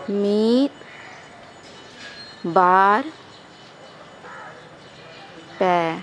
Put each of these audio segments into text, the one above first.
ᱢᱤᱫ ᱵᱟᱨ ᱯᱮ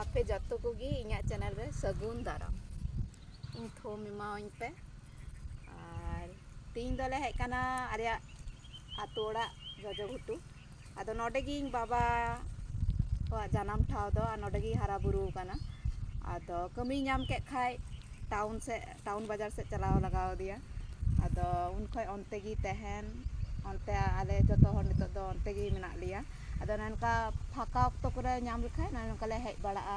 ᱟᱯᱮ ᱡᱚᱛᱚ ᱠᱚᱜᱮ ᱤᱧᱟᱹᱜ ᱪᱮᱱᱮᱞ ᱨᱮ ᱥᱟᱹᱜᱩᱱ ᱫᱟᱨᱟᱢ ᱤᱧ ᱛᱷᱩᱢ ᱮᱢᱟᱣᱟᱹᱧ ᱯᱮ ᱟᱨ ᱛᱤᱦᱤᱧ ᱫᱚᱞᱮ ᱦᱮᱡ ᱠᱟᱱᱟ ᱟᱞᱮᱭᱟᱜ ᱟᱛᱳ ᱚᱲᱟᱜ ᱡᱚᱡᱚ ᱜᱷᱩᱴᱩ ᱟᱫᱚ ᱱᱚᱰᱮ ᱜᱮ ᱤᱧ ᱵᱟᱵᱟ ᱠᱚᱣᱟᱜ ᱡᱟᱱᱟᱢ ᱴᱷᱟᱶ ᱫᱚ ᱟᱨ ᱱᱚᱰᱮ ᱜᱮᱭ ᱦᱟᱨᱟ ᱵᱩᱨᱩ ᱟᱠᱟᱱᱟ ᱟᱫᱚ ᱠᱟᱹᱢᱤᱭ ᱧᱟᱢ ᱠᱮᱫ ᱠᱷᱟᱱ ᱴᱟᱣᱩᱱ ᱥᱮᱫ ᱴᱟᱣᱩᱱ ᱵᱟᱡᱟᱨ ᱥᱮᱫ ᱪᱟᱞᱟᱣ ᱞᱟᱜᱟᱣ ᱟᱫᱮᱭᱟ ᱟᱫᱚ ᱩᱱ ᱠᱷᱚᱱ ᱚᱱᱛᱮ ᱜᱮ ᱛᱟᱦᱮᱱ ᱚᱱᱛᱮ ᱟᱞᱮ ᱡᱚᱛᱚ ᱦᱚᱲ ᱱᱤᱛᱳᱜ ᱫᱚ ᱚᱱᱛᱮ ᱜᱮ ᱢᱮᱱᱟᱜ ᱞᱮᱭᱟ ᱟᱫᱚ ᱱᱚᱝᱠᱟ ᱯᱷᱟᱸᱠᱟ ᱚᱠᱛᱚ ᱠᱚᱨᱮ ᱧᱟᱢ ᱞᱮᱠᱷᱟᱱ ᱱᱚᱜᱼᱚᱭ ᱱᱚᱝᱠᱟ ᱞᱮ ᱦᱮᱡ ᱵᱟᱲᱟᱜᱼᱟ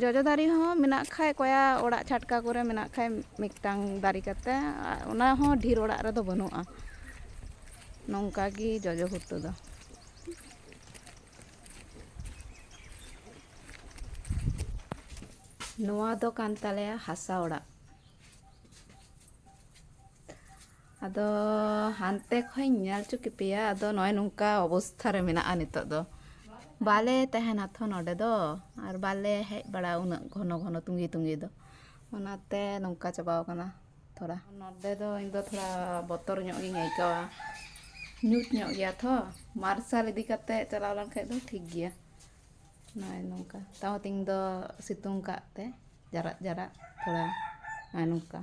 ᱡᱚᱡᱚ ᱫᱟᱨᱮ ᱦᱚᱸ ᱢᱮᱱᱟᱜ ᱠᱷᱟᱡ ᱠᱚᱭᱟ ᱚᱲᱟᱜ ᱪᱷᱟᱴᱠᱟ ᱠᱚᱨᱮ ᱢᱮᱱᱟᱜ ᱠᱷᱟᱡ ᱢᱤᱫᱴᱟᱝ ᱫᱟᱨᱮ ᱠᱟᱛᱮ ᱚᱱᱟ ᱦᱚᱸ ᱰᱷᱮᱨ ᱚᱲᱟᱜ ᱨᱮᱫᱚ ᱵᱟᱹᱱᱩᱜᱼᱟ ᱱᱚᱝᱠᱟ ᱜᱮ ᱡᱚᱡᱚ ᱩᱛᱩ ᱫᱚ ᱱᱚᱣᱟ ᱫᱚ ᱠᱟᱱ ᱛᱟᱞᱮᱭᱟ ᱦᱟᱥᱟ ᱚᱲᱟᱜ ᱟᱫᱚ ᱦᱟᱱᱛᱮ ᱠᱷᱚᱡ ᱤᱧ ᱧᱮᱞ ᱦᱚᱪᱚ ᱠᱮᱯᱮᱭᱟ ᱟᱫᱚ ᱱᱚᱜᱼᱚᱭ ᱱᱚᱝᱠᱟ ᱚᱵᱚᱥᱛᱷᱟ ᱨᱮ ᱢᱮᱱᱟᱜᱼᱟ ᱱᱤᱛᱳᱜ ᱫᱚ ᱵᱟᱞᱮ ᱛᱟᱦᱮᱱᱟ ᱛᱷᱚ ᱱᱚᱰᱮ ᱫᱚ ᱟᱨ ᱵᱟᱞᱮ ᱦᱮᱡ ᱵᱟᱲᱟᱜᱼᱟ ᱩᱱᱟᱹᱜ ᱜᱷᱚᱱᱚ ᱜᱷᱚᱱᱚ ᱛᱩᱸᱜᱤ ᱛᱩᱸᱜᱤ ᱫᱚ ᱚᱱᱟᱛᱮ ᱱᱚᱝᱠᱟ ᱪᱟᱵᱟᱣ ᱠᱟᱱᱟ ᱛᱷᱚᱲᱟ ᱱᱚᱰᱮ ᱫᱚ ᱤᱧ ᱫᱚ ᱛᱷᱚᱲᱟ ᱵᱚᱛᱚᱨ ᱧᱚᱜ ᱜᱤᱧ ᱟᱹᱭᱠᱟᱹᱣᱟ ᱧᱩᱛ ᱧᱚᱜ ᱜᱮᱭᱟ ᱛᱷᱚ ᱢᱟᱨᱥᱟᱞ ᱤᱫᱤ ᱠᱟᱛᱮ ᱪᱟᱞᱟᱣ ᱞᱮᱱ ᱠᱷᱟᱡ ᱫᱚ ᱴᱷᱤᱠ ᱜᱮᱭᱟ ᱱᱚᱜᱼᱚᱭ ᱱᱚᱝᱠᱟ ᱛᱟᱣ ᱛᱮᱦᱮᱧ ᱫᱚ ᱥᱤᱛᱩᱝ ᱠᱟᱜ ᱛᱮ ᱡᱟᱨᱟᱜ ᱡᱟᱨᱟᱜ ᱛᱷᱚᱲᱟ ᱱᱚᱜᱼᱚᱭ ᱱᱚᱝᱠᱟ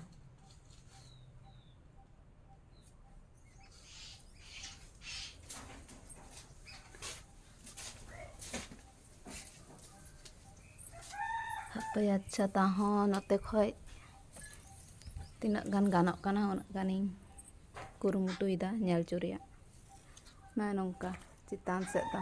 ᱦᱟᱯᱮᱭᱟ ᱟᱪᱪᱷᱟ ᱛᱟᱦᱚᱸ ᱱᱚᱛᱮ ᱠᱷᱚᱡ ᱛᱤᱱᱟᱹᱜ ᱜᱟᱱ ᱜᱟᱱᱚᱜ ᱠᱟᱱᱟ ᱩᱱᱟᱹᱜ ᱜᱟᱱᱤᱧ ᱠᱩᱨᱩᱢᱩᱴᱩᱭᱮᱫᱟ ᱧᱮᱞ ᱦᱚᱪᱚ ᱨᱮᱭᱟᱜ ᱱᱚᱜᱼᱚᱭ ᱱᱚᱝᱠᱟ ᱪᱮᱛᱟᱱ ᱥᱮᱫ ᱫᱚ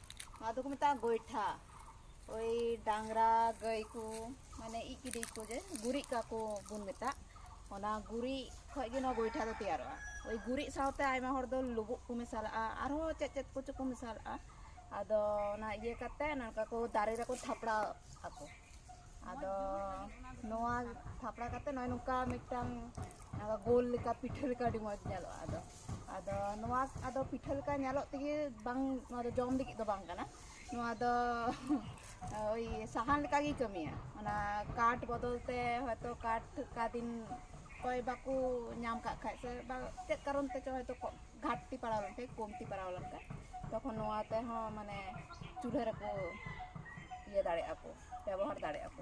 ᱱᱚᱣᱟ ᱫᱚᱠᱚ ᱢᱮᱛᱟᱜᱼᱟ ᱜᱚᱭᱴᱷᱟ ᱳᱭ ᱰᱟᱝᱨᱟ ᱜᱟᱹᱭ ᱠᱚ ᱢᱟᱱᱮ ᱤᱡ ᱠᱤᱫᱤᱧ ᱠᱚ ᱡᱮ ᱜᱩᱨᱤᱡ ᱠᱟᱠᱚ ᱵᱚᱱ ᱢᱮᱛᱟᱜ ᱚᱱᱟ ᱜᱩᱨᱤᱡ ᱠᱷᱚᱡ ᱜᱮ ᱱᱚᱣᱟ ᱜᱚᱭᱴᱷᱟ ᱫᱚ ᱛᱮᱭᱟᱨᱚᱜᱼᱟ ᱳᱭ ᱜᱩᱨᱤᱡ ᱥᱟᱶᱛᱮ ᱟᱭᱢᱟ ᱦᱚᱲ ᱫᱚ ᱞᱩᱵᱩᱜ ᱠᱚ ᱢᱮᱥᱟᱞᱟᱜᱼᱟ ᱟᱨᱦᱚᱸ ᱪᱮᱫ ᱪᱮᱫ ᱠᱚᱪᱚ ᱠᱚ ᱢᱮᱥᱟᱞᱟᱜᱼᱟ ᱟᱫᱚ ᱚᱱᱟ ᱤᱭᱟᱹ ᱠᱟᱛᱮ ᱱᱚᱝᱠᱟ ᱠᱚ ᱫᱟᱨᱮ ᱨᱮᱠᱚ ᱛᱷᱟᱯᱲᱟᱣ ᱟᱠᱚ ᱟᱫᱚ ᱱᱚᱣᱟ ᱛᱷᱟᱯᱲᱟ ᱠᱟᱛᱮ ᱱᱚᱜᱼᱚᱭ ᱱᱚᱝᱠᱟ ᱢᱤᱫᱴᱟᱝ ᱜᱳᱞ ᱞᱮᱠᱟ ᱯᱤᱴᱷᱟᱹ ᱞᱮᱠᱟ ᱟᱹᱰᱤ ᱢᱚᱡᱽ ᱧᱮᱞᱚᱜᱼᱟ ᱟᱫᱚ ᱟᱫᱚ ᱱᱚᱣᱟ ᱟᱫᱚ ᱯᱤᱴᱷᱟᱹ ᱞᱮᱠᱟ ᱧᱮᱞᱚᱜ ᱛᱮᱜᱮ ᱵᱟᱝ ᱱᱚᱣᱟ ᱫᱚ ᱡᱚᱢ ᱞᱟᱹᱜᱤᱫ ᱫᱚ ᱵᱟᱝ ᱠᱟᱱᱟ ᱱᱚᱣᱟ ᱫᱚ ᱳᱭ ᱥᱟᱦᱟᱱ ᱞᱮᱠᱟᱜᱮ ᱠᱟᱹᱢᱤᱭᱟ ᱚᱱᱟ ᱠᱟᱴ ᱵᱚᱫᱚᱞ ᱛᱮ ᱦᱚᱭᱛᱚ ᱠᱟᱴ ᱚᱠᱟ ᱫᱤᱱ ᱚᱠᱚᱭ ᱵᱟᱠᱚ ᱧᱟᱢ ᱠᱟᱜ ᱠᱷᱟᱡ ᱥᱮ ᱵᱟ ᱪᱮᱫ ᱠᱟᱨᱚᱱ ᱛᱮᱪᱚ ᱦᱚᱭᱛᱚ ᱜᱷᱟᱴᱛᱤ ᱯᱟᱲᱟᱣ ᱞᱮᱱᱠᱷᱟᱡ ᱠᱚᱢᱛᱤ ᱯᱟᱲᱟᱣ ᱞᱮᱱᱠᱷᱟᱡ ᱛᱚᱠᱷᱚᱱ ᱱᱚᱣᱟ ᱛᱮᱦᱚᱸ ᱢᱟᱱᱮ ᱪᱩᱞᱦᱟᱹ ᱨᱮᱠᱚ ᱤᱭᱟᱹ ᱫᱟᱲᱮᱭᱟᱜᱼᱟ ᱠᱚ ᱵᱮᱵᱚᱦᱟᱨ ᱫᱟᱲᱮᱭᱟᱜᱼᱟ ᱠᱚ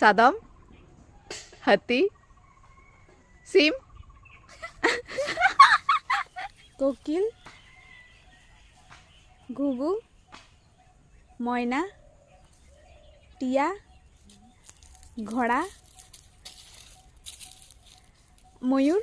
ᱥᱟᱫᱚᱢ ᱦᱟᱹᱛᱤ ᱥᱤᱢ ᱠᱳᱠᱤᱞ ᱜᱩᱜᱩ ᱢᱚᱭᱱᱟ ᱴᱤᱭᱟ ᱜᱷᱚᱲᱟ ᱢᱚᱭᱩᱨ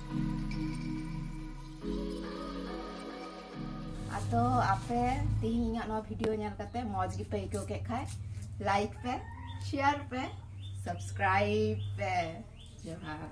ᱟᱫᱚ ᱟᱯᱮ ᱛᱮᱦᱮᱧ ᱤᱧᱟᱹᱜ ᱱᱚᱣᱟ ᱵᱷᱤᱰᱤᱭᱳ ᱧᱮᱞ ᱠᱟᱛᱮ ᱢᱚᱡᱽ ᱜᱮᱯᱮ ᱟᱹᱭᱠᱟᱹᱣ ᱠᱮᱫ ᱠᱷᱟᱡ ᱞᱟᱭᱤᱠ ᱯᱮ ᱥᱮᱭᱟᱨ ᱯᱮ ᱥᱟᱵᱥᱠᱨᱟᱭᱤᱵ ᱯᱮ ᱡᱚᱦᱟᱨ